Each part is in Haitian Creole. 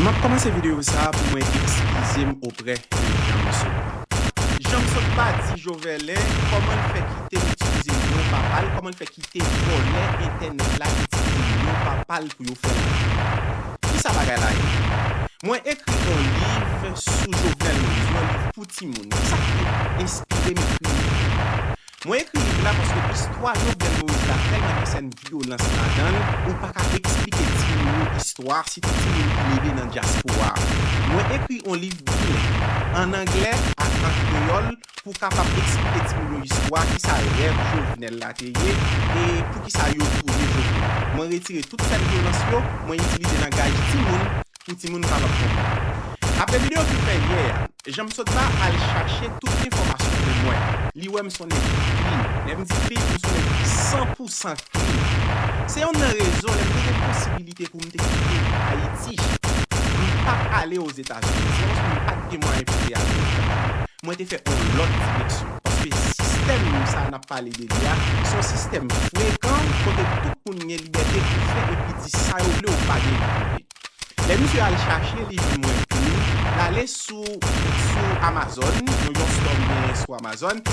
Map komanse video sa pou mwen ekskizem oprè de Janmsot. Janmsot pa di Joverlin koman l fè kite itilize non papa l, koman l fè kite vòlè entènèt la itilize non papa l pou yo fè lajan. Kisa bagay la ye? Mwen ekri on liv sou Jovenel Moïse, yon liv pou timoun. Kisa ki te enspire m ekri liv la? Mwen ekri liv la paske istwa Jovenel Moïse la tèlman gen sèn vyolans ladan l, ou pa ka eksplike timoun yo istwa a, sitou timoun ki leve nan dyaspora a. Mwen ekri on liv bileng, an anglè ak an kreyòl, pou kapab eksplike timoun yo istwa, kisa rèv Jovenel la te ye, e poukisa yo touye Jovenel. Mwen retire tout sèn vyolans yo, mwen itilize langaj timoun, pou timoun kapab konprann. Apre video ki fè yè a, jan m sot la al chache tout enfòmasyon pou mwen, li wè m s on nèg ki klin. Lè m di klin, m s on nèg ki san pou san klin. Se yonn nan rezon lè m te gen posibilite pou m te kite Ayiti, m pat ale Ozetazini. Se paske m pat gen mwayen pou m te ale Ozetazini. mwen te fè on lòt refleksyon. Paske sistèm sa nap pale de li a, son sistèm frekan kote tout moun gen libète pou fè epi di sa yo vle ou pa gen libète. Lè misye al chache li jwenn mwen epi li lale sou sou Amazon, yon yon store m genyen sou Amazon.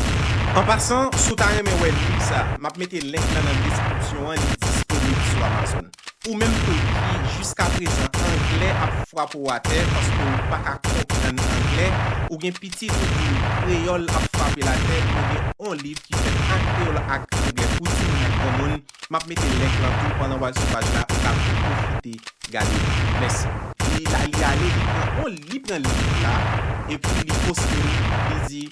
An pasan, si w ta renmen wè liv sa, map mete link lan nan deskripsyon an li disponib sou Amazon. Ou menm tou ki jiska prezan anglè ap frape w atè paske w pa ka konprann anglè, ou gen pitit ou di l kreyòl ap frape l atè, mwen gen on liv ki fèt an kreyòl ak anglè pou timoun ak granmoun, m ap mete link lan tou pandan w al sou paj la ou ka tou pwofite gade li. Mèsi. Li la li ale li pran on li pran liv la epi li poste l li di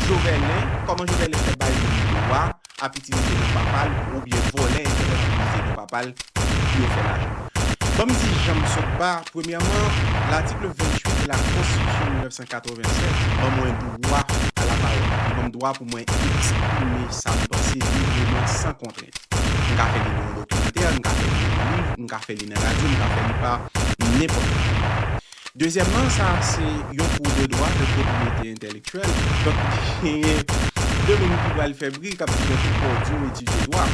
Joverlin kòman Joverlin fè bay moun dwa ap itilize non papa l oubyen vòlè entènèt pou itilize non papa l pou yo fè lajan. Ban m di jan m sot ba, premyèman, latikl 28 de lakonstitisyon 1987 ban mwen dwa a lapawòl, li ban m dwa pou mwen eksprime sa m panse libreman san kontrent. M ka fè li nan yon dokimantè, m ka fè li nan yon liv, m ka fè li nan radyo, m ka fè li pa nenpòt ki mwayen. Dezyèmman, sa a se yon kou de dwa pou pwopriyete entèlektyèl. Donk, genyen de moun ki pral fè bri, k ap di men poukò w di w etidye dwa?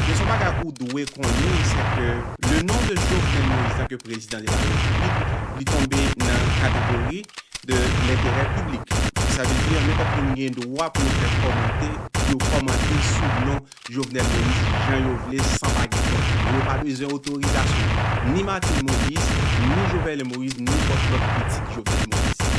Men s on bagay ou dwe konnen, se ke le non de Jovenel Moïse tanke prezidan de la Repiblik, li tonbe nan kategori de lenterè piblik. Sa vle di, nenpòt moun gen dwa pou yo fè kòmante, pou yo kòmante sou non Jovenel Moïse jan yo vle san pa gen kont. Yo pa bezwen otorizasyon ni Martine Moïse, ni Joverlein Moïse, ni pòch lòt pitit Jovenel Moïse.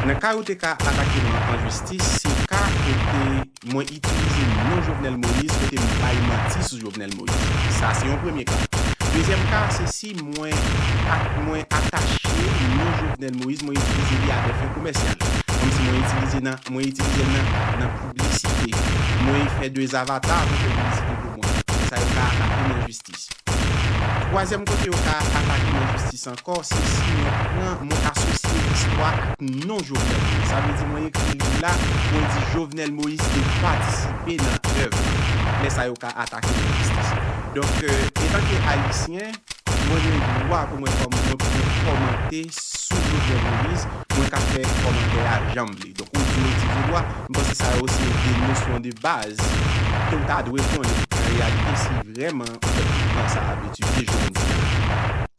Nan ka yo te ka atake mwen an jistis, se ka kote mwen itilize non Jovenel Moïse, kote m bay manti sou Jovenel Moïse. Sa se yon premye ka. Dezyèm ka, se si. Wi mwen ak mwen atache non Jovenel Moïse mwen itilize li a dè fen komèsyal komsi mwen itilize nan mwen itilizel nan nan piblisite mwen fè 2 zavata pou fè piblisite pou mwen konsa yo ka atakem nan jistis twazyèm kote yo ka atakem nan jistis ankò se si mwen pran mwen asosye listwa ak non Jovenel Moïse sa vle di mwen ekri liv la mwen di Jovenel Moïse te patisipe nan èv la lè sa yo ka. pa atake lajistis. Donk, etanke Ayisyen, mwen gen dwa pou mwen kòmante sou Jovenel Moïse, mwen ka fè kòmantè a jan m vle. Donk, ou di m eti je dwa, m panse sa yo se de nosyon de baz ke ou ta dwe konnen an reyalite si vrèman ou fè tout tan sa a ap etidye joundia.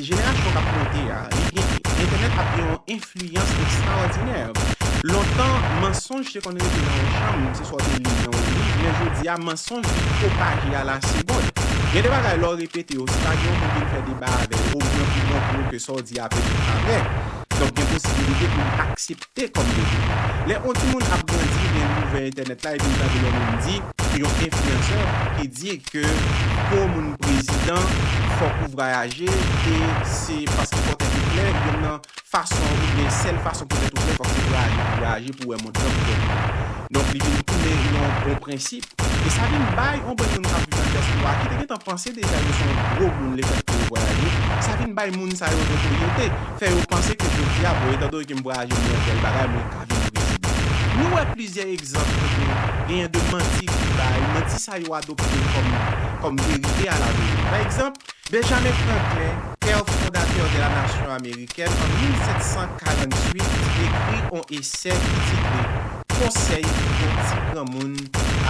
Jenerasyon k ap monte a, li gen, entènèt ap gen yon enfliyans ekstraòdinè. Lontan, mansonj te konn rete nan yon chanm, se swa w te li l nan yon liv, men jodi a, mansonj vin pwopaje alasegond. Gen de bagay, lè w repete yo, si pa gen yon moun vin fè deba avè w, omwen pou w montre w ke sa w di a petèt pa vrè, donk gen posibilite pou li aksepte. T kòm bebe. Lè yon timoun ap grandi gen li ouvè entènèt la epi li tande yon moun di, yon enfliyansè ki di ke pou yon moun prezidan fòk ou vrayaje e se paske fòw tèt ou klè, yonn nan fason oubyen sèl fason pou tèt ou klè fòk se vrayaje pou vrayaje pou wè mond lan pou tèt ou klè. Donk li vin tounen yon bon prensip. E sa vin bay yon bann moun k ap viv nan dyaspora ki te gen tan panse deja yo se yon gwo moun lefèt ke yo vwayaje, sa vin bay moun sa yo notoryete, fè yo panse ke jodi a, bon etandone ke m vwayaje m wè bèl bagay, mwen ka vin prezidan. Nou wè plizyè egzanp kote genyen de manti ki bay, manti sa yo adopte kòm verite alaveni. Pa egzanp, Benjamin Franklin, père fondateur de la nation américaine, an 1748, ekri on esè ki titre Konsèy yon ti granmoun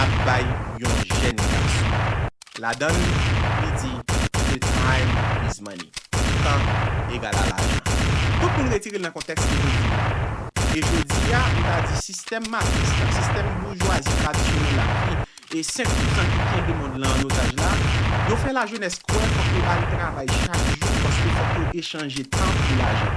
ap bay yon jèn gason. Ladan l, li di, The time is money. Tan egal a lajan. Tout moun retire l nan kontèks li vle di l la. E jodi a, m ta di sistèm matris la, sistèm boujwazi tradisyonèl la ki E 5 pousan ki kenbe mond lan an otaj la, yo fè lajenès kwè fòk yo al travay chak jou paske fòk yo echanje tan pou lajan.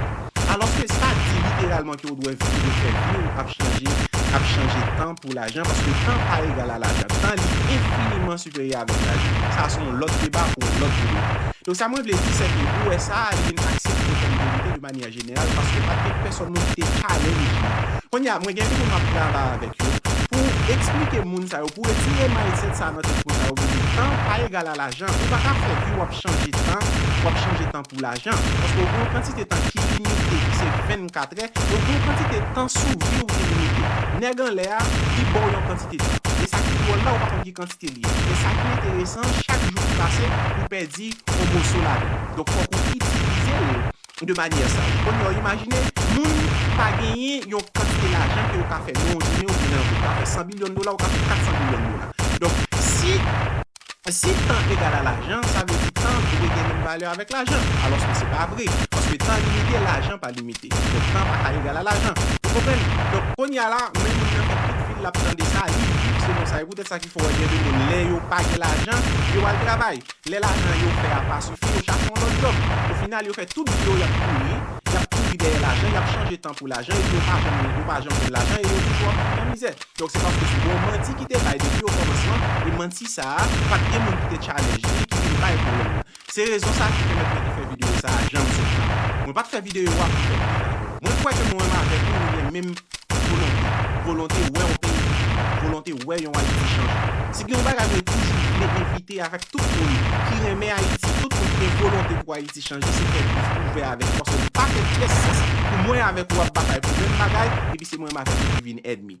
Alòske sa di literalman ke ou dwè vi ou fè vi ou ap chanje ap chanje tan pou lajan paske tan pa egal a lajan. Tan li enfiniman siperyè avèk lajan. Sa se yon lòt deba pou yon lòt video. Donk sa mwen vle di sèke ou wè sa a li vin aksepte kòm verite de manyè. an jeneral paske pa t gen pèsòn moun ki te pale li byen. Kounye a, mwen gen yon moun m ap travay avèk yo pou esplike moun sa yo, pou retire mindset sa a nan tèt moun sa yo kote tan pa egal a lajan. Ou pa ka fè vi w ap chanje tan, w ap chanje tan pou lajan. Paske ou gen yon kantite tan ki limite ki se 24 è, e ou gen yon kantite tan sou vi ou ki limite. Nèg anlè a, li ba w yon kantite tan. Men sa ki dwòl la, ou pa konn ki kantite li ye. Men sa ki enteresan, chak jou ki pase, ou pèdi yon moso ladan l. Donk fòk ou itilize l de manyè sa. Kounye a, imajine moun pa genyen yon kantite lajan ke ou ka fè nan yon jounen oubyen nan yon peyi. Ou ka fè 100 bilyon dola, ou ka fè 400 bilyon dola. Donk, si, si tan egal a lajan, sa vle di tan dwe gen menm valè avèk lajan. Alòske se pa vre. Paske tan limite, lajan pa limite. Donk, tan pa ka egal a lajan. Nou konprann? Donk, kounye a la, men moun nan fè tout vi l l ap tande sa, li viv selon sa. E poutèt sa ki fè ou wè gen de moun, lè yo pa gen lajan, yo al travay. lè lajan yo fè a pa sifi yo chache yon lòt djòb. Ofinal yo fè tout vi yo y ap kouri, y ap kouri dèyè lajan, y ap chanje tan pou lajan epi yo pa janm yo pa janm jwenn lajan e yo toujou ap viv nan mizè. Donk se paske se yon manti ki te bay depi okòmansman e manti sa a pa t gen moun ki te tchalèj li ki vin bay pwoblèm nan. Se rezon sa a ki pèmèt mwen te fè videyo sa a jan m sot la. Mwen pa t fè videyo a pou fè bif avè w. Mwen kwè ke mwen menm avèk ou nou gen menm. Volonte. Volonte wè yon peyi chanje. Volonte wè yon Ayiti chanje. Si gen yon bagay mwen toujou vle envite avèk tout moun ki renmen Ayiti, tout moun ki gen volonte pou Ayiti chanje, se fè bouch ouvè avèk yo paske li pa fè pyès sans pou mwen avèk ou ap batay pou menm bagay epi se mwen menm avèk ou ki vin ènmi.